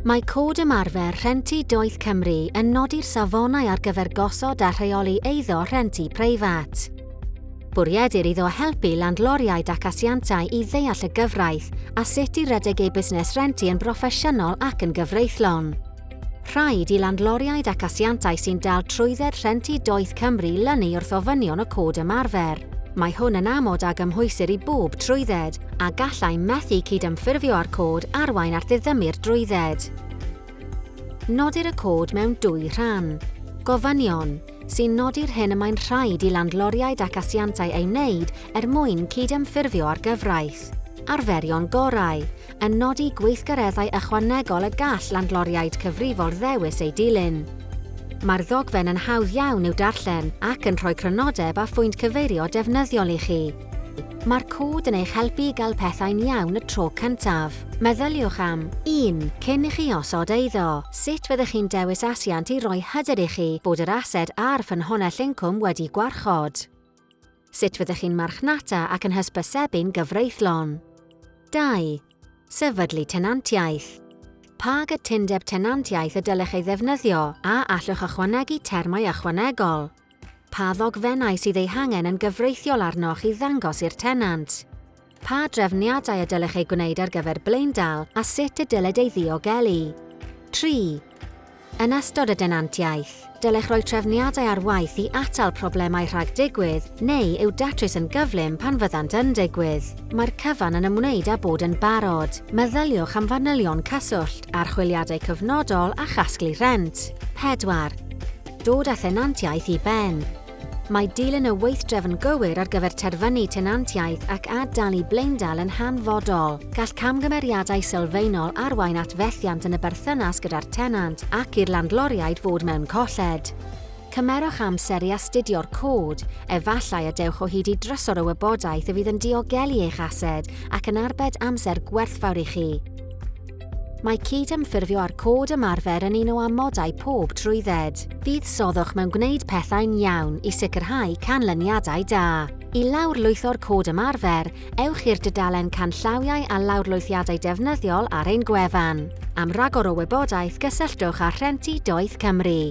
Mae Cod Ymarfer Rhentu Doeth Cymru yn nodi'r safonau ar gyfer gosod a rheoli eiddo rhentu preifat. Bwriedir iddo helpu landloriaid ac asiantau i ddeall y gyfraith a sut i redeg eu busnes rentu yn broffesiynol ac yn gyfreithlon. Rhaid i landloriaid ac asiantau sy'n dal trwydded rhent i Doeth Cymru lynu wrth ofynion y Cod Ymarfer. Mae hwn yn amod a gymhwysir i bob trwydded, a gallai methu cydymffurfio â'r Cod arwain at ddiddymu'r drwydded. Nodir y Cod mewn dwy rhan. Gofynion, sy'n nodi'r hyn y mae'n rhaid i landloriaid ac asiantau ei wneud er mwyn cydymffurfio â'r gyfraith. Arferion gorau, yn nodi gweithgareddau ychwanegol y gall landloriaid cyfrifol ddewis eu dilyn. Mae'r ddogfen yn hawdd iawn i'w darllen ac yn rhoi crynodeb a phwynt cyfeirio defnyddiol i chi. Mae'r cod yn eich helpu i gael pethau'n iawn y tro cyntaf. Meddyliwch am, 1. Cyn i chi osod eiddo, sut fyddech chi'n dewis asiant i roi hyder i chi bod yr ased a'r ffynhonnell incwm wedi gwarchod? Sut fyddech chi'n marchnata ac yn hysbysebu'n gyfreithlon? 2. Sefydlu tenantiaeth. Pa gytundeb tenantiaeth y dylech ei ddefnyddio a allwch ychwanegu termau ychwanegol? Pa ddogfennau sydd eu hangen yn gyfreithiol arnoch i ddangos i'r tenant? Pa drefniadau y dylech eu gwneud ar gyfer blaendal a sut y dylid ei ddiogelu? Tri. Yn ystod y denantiaeth, dylech roi trefniadau ar waith i atal problemau rhag digwydd neu i'w datrys yn gyflym pan fyddant yn digwydd. Mae'r cyfan yn ymwneud â bod yn barod. Meddyliwch am fanylion cyswllt, archwiliadau cyfnodol a chasglu rhent. Pedwar. Dod â thenantiaeth i ben. Mae dilyn y weithdrefn gywir ar gyfer terfynu tenantiaid ac ad-dalu blaendal yn hanfodol. Gall camgymeriadau sylfaenol arwain at fethiant yn y berthynas gyda'r tenant ac i'r landloriaid fod mewn colled. Cymerwch amser i astudio'r cod, efallai y dewch o hyd i drysor o wybodaeth y fydd yn diogelu eich ased ac yn arbed amser gwerthfawr i chi. Mae cydymffurfio â'r cod ymarfer yn un o amodau pob trwydded. Buddsoddwch mewn gwneud pethau'n iawn i sicrhau canlyniadau da. I lawrlwytho'r cod ymarfer, ewch i'r dudalen Canllawiau a Lawrlwythiadau Defnyddiol ar ein gwefan. Am ragor o wybodaeth gysylltwch â Rhenti Doeth Cymru.